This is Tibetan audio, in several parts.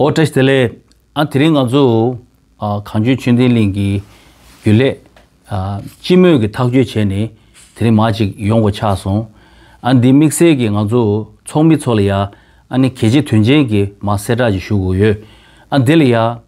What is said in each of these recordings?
ཨོ་ཏྲེས་དེ་ལས་ཨ་དེ་རིང་ང་ཚོ་གངས་ཅན་ཆོས་ལྡན་གླིང་གི་རྒྱུན་ལས་སྤྱི་མོས་ཀྱི་ཐག་གཅོད་བྱས་ནས་དེ་རིང་མ་ཅིག་ཡོང་གོ་ཆགས་སོང། ཨ་འདི་དམིགས་བསལ་གྱི་ང་ཚོ་ཚོགས་མི་ཚོ་ལ་ཡ་ཨ་ནི་གལ་ཆེ་དོན་ཆེན་གྱི་མ་གསལ་བསྒྲགས་ཅིག་ཞུ་དགོས་ཡོད། ཨ་འདི་ལ་ཡ།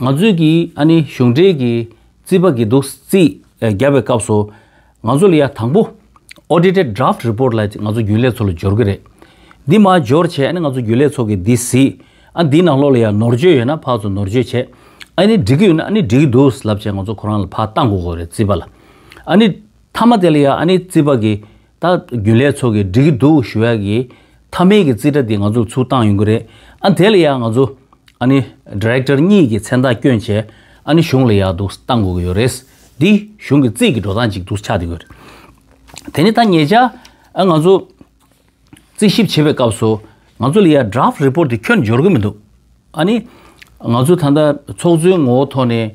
ང་ཚོས་ཀྱིས་ཨ་ནི་གཞུང་འབྲེལ་གྱི་རྩིས་པ་བགྱིས་འདུག་རྩིས། བརྒྱབ་པའི་སྐབས་སུ། ང་ཚོ་ལ་ཡང་དང་པོ། Audited Draft Report། ལ་ང་ཚོ་རྒྱུན་ལས་ཚོ་ལ་སྦྱོར་གྱི་རེད། འདི་མ་སྦྱོར་ཆེད་ཨ་ནི་ང་ཚོ་རྒྱུན་ལས་ཚོ་གིས་འདི་གཟིགས། ཨ་འདིའི་ནང་ལོགས་ལ་ཡང་ནོར་བཅོས་ཡོད་ན་ཕར་ཚོ་ནོར་བཅོས་བྱེད། ཨ་ནི་འགྲིག་གི་ཡོད་ན་ཨ་ནི་འགྲིག་གི་འདུག་ལབ་ཆེད་ང་ཚོ་ཁོ་རང་ལ་ཕར་བཏང་དགོས་དགོས་རེད་རྩིས་པ་ལ། ཨ་ནི་མཐའ་མ་དེ་ལ་ཡང་ཨ་ནི་རྩིས་པ་གྱིས་ད་རྒྱུན་ལས་ཚོགས་ཀྱི་འགྲིག་གི་འདུག་ཞུ་ཡག་གི། མཐའ་མེད་ཀྱི་རྩིས་ཁྲ་འདི་ང་ཚོ་ལ་ཚུར་བཏང་ཡོང་གི་རེད། ཨ་དེ་ལ་ཡག་ང་ཚོ། ཨ་ནི། Director། གཉིས་ཀྱི་མཚན་རྟགས་བསྐྱོན་བྱས། ཨ་ནི་གཞུང་ལ་ཡག་འདུག་བཏང་དགོས་ཀྱི་ཡོད་རེད། འདི་གཞུང་གི་རྩིས་ཀྱི་འགྲོ་སྟངས་ཅིག་འདུག་ཆགས་འདི་དགོས་རེད། དེ་ནི་ད་ངེད་ཅག་ཨ་ང་ཚོ། རྩིས་ཞིབ་བྱེད་པའི་སྐབས་སུ། ང་ཚོ་ལ་ཡ Draft Report དེ་ཁྱོད་འབྱོར་གྱི་མི་འདུག་ཨ་ནི། ང་ཚོ་ད་ལྟ་ཚོགས་གཙོའི་ངོ་བོ་ཐོག་ནས་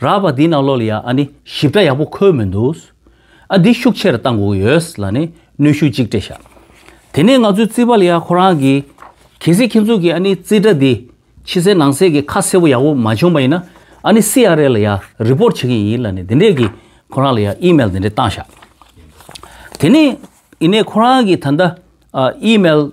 རགས་པ་འདི་ནང་ལོགས་ལ་ཡང་ཨ་ནི་ཞིབ་ཕྲ་ཡག་པོ་འཁོད་མི་འདུག། ཨ་འདི་ཤུགས་ཆེར་བཏང་དགོས་ཀྱི་ཡོད་ལ་ནི་གནོད་ཤུགས་གཅིག་སྤྲད་བཞག། དེ་ནས་ང་ཚོའི་རྩིས་པ་ལ་ཡང་ཁོ་རང་གིས། གལ་སྲིད་ཁྱེད་ཚོ་གིས་ཨ་ནི་རྩིས་ཁྲ་འདི་ཕྱི་གསལ་ནང་གསལ་གྱི་ཁ་གསལ་པོ་ཡག་པོ་མ་བྱུང་བ་ཡིན་ན་ཨ་ནི་སི་ཨ་རལ་ལ་ཡང་རི་པོར་བྱེད་ཀྱི་ཡིན་ལ་ནི་འདི་འདྲས་ཀྱིས་ཁོ་རང་ལ་ཡང་ཨི་མེལ་འདི་འདྲས་བཏང་བཞག། དེ་ནས་ཨི་ནས་ཁོ་རང་གིས་ད་ལྟ་ཨི་མེལ།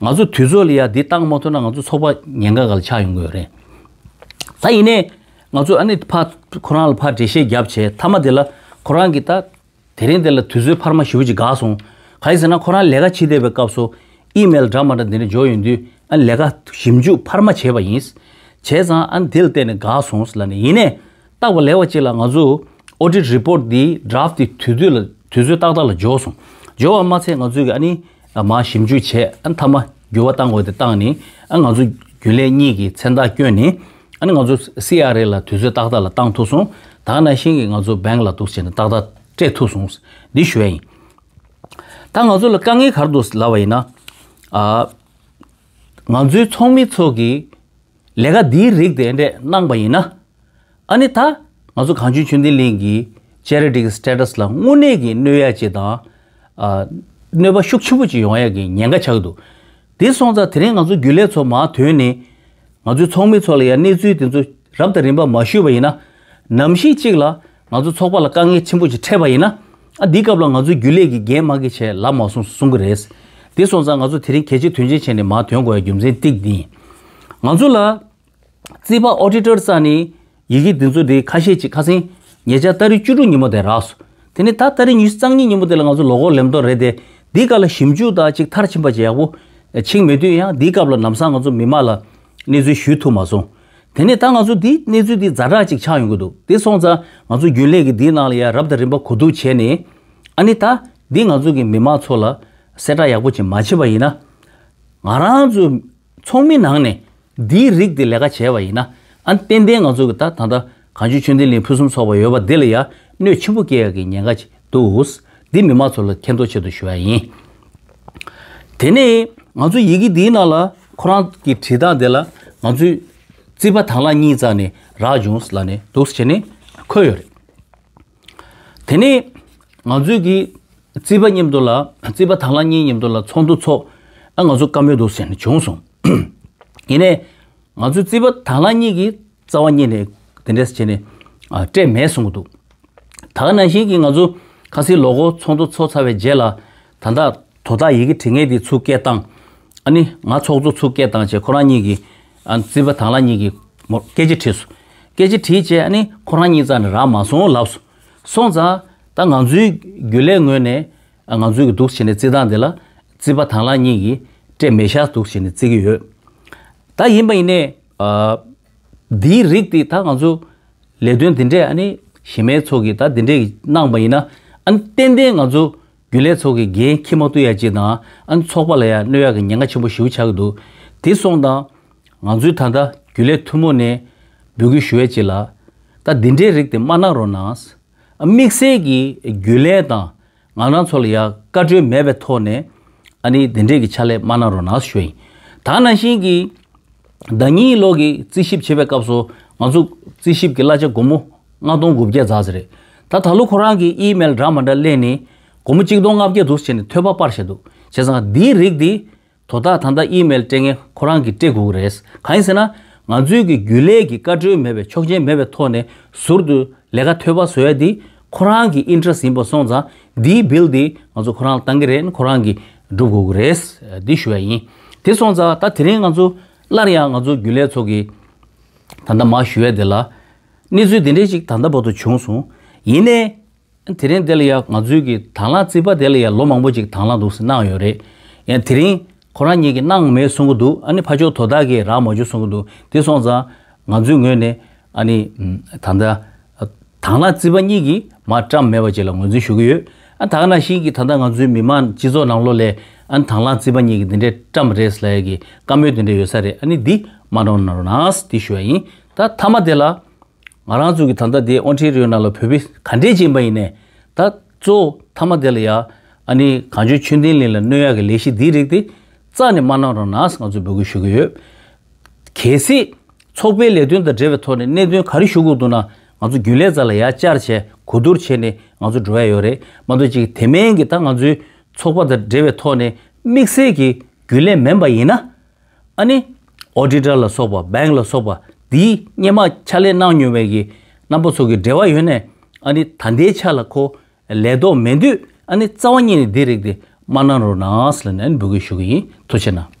ང་ཚོ་དུས་ཚོད་ལ་ཡང་འདི་བཏང་མ་ཐུབ་ན་ང་ཚོ་ཚོགས་པ་ཉེན་ཁ་ག་ལ་ཆགས་ཡོང་གི་ཡོད་རེད། ད་ཡིན་ནའི་ང་ཚོ་ཨ་ནི་ཕ་ཁོ་རང་ལ་ཕ་འགྲེལ་བཤད་བརྒྱབ་བྱས་མཐའ་མ་དེ་ལ་ཁོ་རང་གིས་ད་དེ་རིང་དེ་ལ་དུས་ཚོད་འཕར་མ་ཞུ་ཅིག་དགའ་སོང། ག་ཡིན་ཟེར་ན་ཁོ་རང་ལས་ཀ་བྱེད་བསྡད་པའི་སྐབས་སུ་ཨི་མེལ་འདྲ་མ་འདྲ་འདི་འདྲ་འབྱོར་ཡོང་དུས་ཨ་ནི་ལས་ཀ་ཞིབ་འཇུག་འཕར་མ་བྱས་པ་ཡིན། བྱས་ཙང་ཨ་ནི་དེ་ལ་བལྟས་ནས་དགའ་སོང་ལ་ནི་ཡིན་ནའི་ཏག་པ་ལེགས་པ་ཅིག་ལ་ང་ཚོས Audit Report འདིའི Draft དེ་དུས་ཚོད་ལ་དུས་ཚོད་ཏག་ཏག་ལ་འབྱོར་སོང། འབྱོར་བ་མ་ཚད་ང་ཚོས་ཀྱི་ཨ་ནི་ལ་མ་ཞིབ་འཇུག་བྱས་ཨ་མཐའ་མ་འགྱུར་བ་བཏང་དགོས་དེ་བཏང་ནི་ཨ་ང་ཚོ་རྒྱུན་ལས་གཉིས་ཀྱི་མཚན་རྟགས་བསྐྱོན་ནི་ཨ་ནི་ང་ཚོ་སི་ཨ་རེ་ལ་དུས་ཚོད་ཏག་ཏག་ལ་བཏང་ཐུག་སོང་དག་ན་ཤིང་གི་ང་ཚོ་བེང་ལ་འདུག་བྱས་ནི་ཏག་ཏག་སྤྲད་ཐུག་སོང་འདི་ཞོལ་ཡིན་ད་ང་ཚོ་ལ་དཀའ་ངལ་གར་འདུག་ལབ་པ་ཡིན་ན་ཨ་ང་ཚོའི་ཚོགས་མི་ཚོགས་ཀྱི་ལས་ཀ་འདིའི་རིགས་དེ་འདྲས་གནང་པ་ཡིན་ན། ཨ་ནི་ད་ང་ཚོ་གངས་ཅན་ཆོས་ལྡན་གླིང་གི Charity གི Status ལ་དངོས་གནས་ཀྱི་གནོད་ཡ་ཅིག་དང། གནོད་པ་ཤུགས་ཆེན་པོ་ཅིག་ཡོང་ཡ་གི་ཉེན་ཁ་ཆགས་འདུག་དེ་སོང་ཙང་དེ་རིང་ང་ཚོ་རྒྱུན་ལས་ཚོ་མ་དོན་ནི། ང་ཚོའི་ཚོགས་མི་ཚོ་ལ་ཡང་གནས་ཚུལ་དེ་ཚོ་རབ་དང་རིམ་པ་མ་ཞུས་པ་ཡིན་ན། ནམ་ཞིག་ཅིག་ལ་ང་ཚོའི་ཚོགས་པ་ལ་དཀའ་ངལ་ཆེན་པོ་ཞིག་འཕྲད་པ་ཡིན་ན། ཨ་འདིའི་སྐབས་ལ་ང་ཚོའི་རྒྱུན་ལས་ཀྱི་འགན་མང་གི་ཆད་ལབ་མ་སོང་གསུང་གི་རེད། དེ་སོང་ཙང་ང་ཚོ་དེ་རིང་གལ་ཆེ་དོན་ཆེན་བྱས་ནས་མར་དོན་གོ་ཡ་རྒྱུ་མཚན་ཏིག་འདི་ཡིན། ང་ཚོ་ལ། རྩིས་པ Auditor རྩ་ནས། ཡི་གེ་འདི་ཚོ་དེ་ཁ་ཤས་ཅིག་ཁ་སེང། ཉེ་ཆར་ལྟ་རི་བཅུ་དྲུག་ཉིན་མོ་དེ་རག་སོ། དེ་ནས་ད་ལྟ་རི་ཉུས་གཙང་གཉིས་ཉིན་མོ་དེ་ལ་ང་ཚོ་ལོ་གོར་ལེམ་ཏོག་རེད་དེ། འདིའི་སྐབས་ལ་ཞིབ་འཇུག་དག་ཅིག་མཐར་ཕྱིན་པ་ཇེ་ཡག་པོ། ཕྱིན་མེད་དུས་ཡང་འདིའི་སྐབས་ལ་ནམ་སང་ང་ཚོ་མི་མང་ལ། གནས་ཚུལ་ཞུས་ཐུབ་མ་སོང། དེ་ནས་ད་ང་ཚོ་འདི་གནས་ཚུལ་འདི་རྫ་དྲག་ཅིག་ཆགས་ཡོང་གི་འདུག་དེ་སོང་ཙང་ང་ཚོ་རྒྱུན་ལས་ཀྱི་འདིའི་ནང་ལ་ཡ་རབས་དང་རིམ་པ་གོ་བསྡུར་བྱས་ནས། ཨ་ནི་ད་འདི་ང་ཚོ་གི་མི་མང་ཚོ་ལ་གསལ་བསྒྲགས་ཡག་པོ་ཅིག་མ་བྱེད་པ་ཡིན་ན། ང་རང་ཚོ་ཚོགས་མི་ནང་ནས་འདིའི་རིགས་འདི་ལས་ཀ་བྱས་པ་ཡིན་ན་ཨ་ནི་ཏན་ཏན་ང་ཚོ་གི་ད་ད་ལྟ་གངས་ཆུ་ཆུ་འདི་ལིང་ཕུན་སུམ་ཚོགས་པ་ཡོད་པ་འདི་ལ་ཡང་གནོད་ཆེན་པོ་སྐྱེ་ཡག་གི་ཉེན་ཁ་ཅིག་འདུག་འདི་མི་མང་ཚོ་ལ་མཁྱེན་རྟོགས་ཆེད་དུ་ཞུ་བ་ཡིན། དེ་ནས་ང་ཚོ་ཡི་གེ་འདིའི་ནང་ལ་ཁོ་རང་གི་བྲིས་སྟངས་དེ་ལ་ང་ཚོས་རྩིས་པ་དང་ལ་གཉིས་བརྩགས་ནས་རག་བྱུང་ལ་ནས་འདུག་བྱས་ནས་འཁོད་ཡོད་རེད། དེ་ནས་ང་ཚོས་གི་རྩིས་པ་མཉམ་དུ་ལ་རྩིས་པ་དང་ལ་གཉིས་མཉམ་དུ་ལ་ཚོགས་འདུ་ཚོགས་ཨ་ང་ཚོ་བཀའ་མོལ་འདུག་བྱས་ནས་བྱུང་སོང། ཡིན་ནས་ང་ཚོའི་རྩིས་པ་དྭང་བླངས་གཉིས་ཀྱིས་རྩ་བ་རྙེད་ནས་དེ་འདྲས་བྱས་ནས་སྤྲད་མེད་གསུང་གི་འདུག་ད་ནང་བཞིན་གྱི་ང་ཚོ་ཁ་སིའི་ལོ་འཁོར་ཚོགས་འདུ་འཚོགས་ཚར་བའི་རྗེས་ལ་ད་ལྟ་དོ་བདག་ཡི་གེ་དྲི་ངད་དེ་ཚུར་སྐད་བཏང། ཨ་ནི་ང་ཚོགས་གཙོ་ཚུར་སྐད་བཏང་བྱས་ཁོ་རང་གཉིས་ཀྱིས་རྩིས་པ་དྭང་བླངས་གཉིས་ཀྱིས་སྐད་ཅིག་བྲིས་སོ། སྐད་ཅིག་བྲིས་བྱས་ཨ་ནི་ཁོ་རང་གཉིས་རྩ་ནས་རག་མ་སོང་ལབ་སོང། སོང་ཙང་ད་ང་ཚོའི་རྒྱུ་ལས་ངོས་ནས་ང་ཚོས་གི་འདུག་བྱས་ནས་བརྩི་སྟངས་དེ་ལ་བརྩི་བ་དང་ལ་གཉིས་ཀྱིས་སྤྲད་མེད་ཤག་འདུག་བྱས་ནས་བརྩི་གི་ཡོད། ད་ཡིན་པ་ཡིན་ནས། འདིའི་རིགས་དེ་ད་ང་ཚོ་ལས་དོན་འདི་འདྲས་ཨ་ནི་གཞི་མའི་ཚོགས་ཀྱིས་ད་འདི་འདྲས་ཀྱི་གནང་པ་ཡིན་ན་ཨ་ནི་ཏན་ཏན་ང་ཚོ་རྒྱུན་ལས་ཚོགས་ཀྱི་འགན་འཁྱིལ་མ་བཏུལ་ཡ་ཅིག་དང་ཨ་ནི་ཚོགས་པ་ལ་ཡ་གནོད་ཡ་གི་ཉེན་ཁ་ཆེན་པོ་ཞིའུ་ཆགས་ཀྱི་འདུག་དེ་སོང་དང། ང་ཚོའི་ད་ལྟ་རྒྱུན་ལས་ཐུན་མོང་ནས་འབོད་སྐུལ་ཞུ་ཡ་ཅིག་ལ། ད་འདི་འདྲས་རིགས་དེ་མ་གནང་རོགས་གནང། དམིགས་བསལ་གྱི་རྒྱུས་ལན་དང་ང་རང་ཚོ་ལ་ཡང་བཀའ་འཁྲོལ་མེད་པའི་ཐོག་ནས་ཨ་ནི་དེ་འདྲས་ཀྱི་ཕྱག་ལས་མ་གནང་རོགས་གནང་ཞུ་ཡིན། ད་ནང་བཞིན་གྱི་ཟླ་གཉིས་ཀྱི་ལོག་གི་རྩིས་ཞིབ་བྱེད་པའི་སྐབས་སུ་ང་ཚོ་རྩིས་ཞིབ་ཀྱི་གླ་ཆ་སྒོར་མོ་ལྔ་སྟོང་དགུ་བརྒྱ་རྫགས་ཟེར་རེད་ད་ད་ལོ་ཁོ་རང་གི་ཨི་མེལ་འདྲ་མ་འདྲ་གླས་ནས་སྒོར་མོ་གཅིག་སྟོང་ལྔ་བརྒྱ་དུ་ཟེར་ནས་ཐོད་པ་སྤར་བཞིན་འདུག་བྱས་ཙང་འདིའི་རིགས་འདི་དོ་བདག་ད་ལྟ་ཨི་མེལ་སྤྲད་མཁན་ཁོ་རང་གི་སྤྲད་དགོས་ཀྱི་རེད། གང་ཡིན་ཟེར་ན། ང་ཚོའི་གི་རྒྱུན་ལས་ཀྱི་བཀའ་འཁྲོལ་མེད་པའི་ཆོག་མཆན་མེད་པའི་ཐོག་ནས་ཟུར་དུ་ལས་ཀ་ཐོལ་བ་བཟོ་ཡ་འདི་ཁོ་རང་གི interest ཡིན་པ་སོང་ཙང་འདིའི bill འདི་ང་ཚོ་ཁོ་རང་ལ་བཏང་གི་རེད་ཁོ་རང་གི་སྒྲུབ་དགོས་ཀྱི་རེད་འདི་ཞུ་ཡ་ཡིན། དེ་སོང་ཙང་ད་དེ་རིང་ང་ཚོ་སླར་ཡང་ང་ཚོ་རྒྱུན་ལས་ཚོ་གི་ད་ད་མ་ཞུ་ཡ་དེ་ལ་གནས་ཚུལ་དེ་འདྲས་ཅིག་ད་ད་བར་དུ་བྱུང་སོང། ཡིན་ནའི་དེ་རིང་དེ་ལ་ཡང་ང་ཚོའི་གི་དང་བླངས་རྩིས་པ་དེ་ལ་ཡང་ལོ་མང་པོ་ཅིག་དང་བླངས་འདུག་སེ་གནང་ཡོད་རེད། ཡང་དེ་རིང་ཁོ་རང་ཉིད་ཀྱིས་གནང་མེད་གསུང་གི་འདུག་ཨ་ནི་ཕ་ཆོག་དོ་བདག་གིས་རག་མ་བྱུང་གསུང་གི་འདུག་དེ་སོང་ཙང་ང་ཚོའི་ངོས་ནས་ཨ་ནི་ད་ལྟ་དང་བླངས་རྩིས་པ་གཉིས་ཀྱིས་མ་བཀྲམས་མེད་པ་བཅས་ལ་ངོས་འཛིན་ཞུ་གི་ཡོད། ཨ་ད་ནང་བཞིན་གྱི་ད་ལྟ་ང་ཚོའི་མི་དམངས་སྤྱི་ཚོགས་ནང་ལོ་ལས་ཨ་ནི་དང་བླངས་རྩིས་པ་གཉིས་ཀྱིས་འདི་འདྲས་བཀྲམས་རེད་ལ་ཡ་གི་བཀའ་མོལ་དེ་འདྲས་ཡོད་ས་རེད་ཨ་ནི་འདི་མ་གནང་ན་རུང་ནའང་སྲིད་དེ་ཞུ་བ་ཡིན། ད་མཐའ་མ་དེ་ལ་ང་རང་ཚོ་གི་ད་ལྟ་དེ་ཨོ་ཁྲི་རོའི་ནང་ལ་བོད་པས་ག་འདྲས་བྱིན་པ་ཡིན་ནས་ད་གཙོ་བོ་མཐའ་མ་དེ་ལ་ཡ་ཨ་ནི་གངས་ཆོས་ཆོས་ལྡན་ལིན་ལ་གནོད་ཡ་གི་ལས་གཞི་འདི་རིགས་དེ་རྩ་ནས་མ་གནང་རོགས་ན་ང་ཚོ་འབོད་སྐུལ་ཞུ་གི་ཡོད། གལ་སྲིད། ཚོགས་པའི་ལས་དོན་དང་འབྲེལ་བའི་ཐོག་ནས་གནད་དོན་ག་རེ་ཞུ་དགོས་འདུག་ན་ང་ཚོ་རྒྱུན་ལས་ཙག་ལ་ཡ་བསྐྱར་བྱས་གོ་བསྡུར་བྱས་ནས་ང་ཚོ་འགྲོ་ཡ་ཡོད་རེད་མ་གཏོགས་ཅིག་དེ་མན་གྱི་ད་ང་ཚོའི་ཚོགས་པ་དང་འབྲེལ་བའི་ཐོག་ནས་དམིགས་བསལ་གྱི་རྒྱུན་ལས་མེན་པ་ཡིན་ན། ཨ་ནི། Auditor། ལ་སོགས་པ Bank ལ་སོགས་པ་འདིའི་སྙན་དམག་ཕྱག་ལས་གནང་མྱོང་བའི་གི་རྣམ་པ་ཚོ་གི་འབྲེལ་བ་ཡོད་ནས་ཨ་ནི་ད་ལྟའི་ཆ་ལ་ཁོ་ལས་དོགས་མེད་དུས་ཨ་ནི་རྩ་བ་ཉིད་ནས་འདི་རིགས་དེ་མ་གནང་རོགས་གནང་ལ་ནས་འབོད་སྐུལ་ཞུ་གི་ཡིན་ཐུགས་ཆེ་གནང།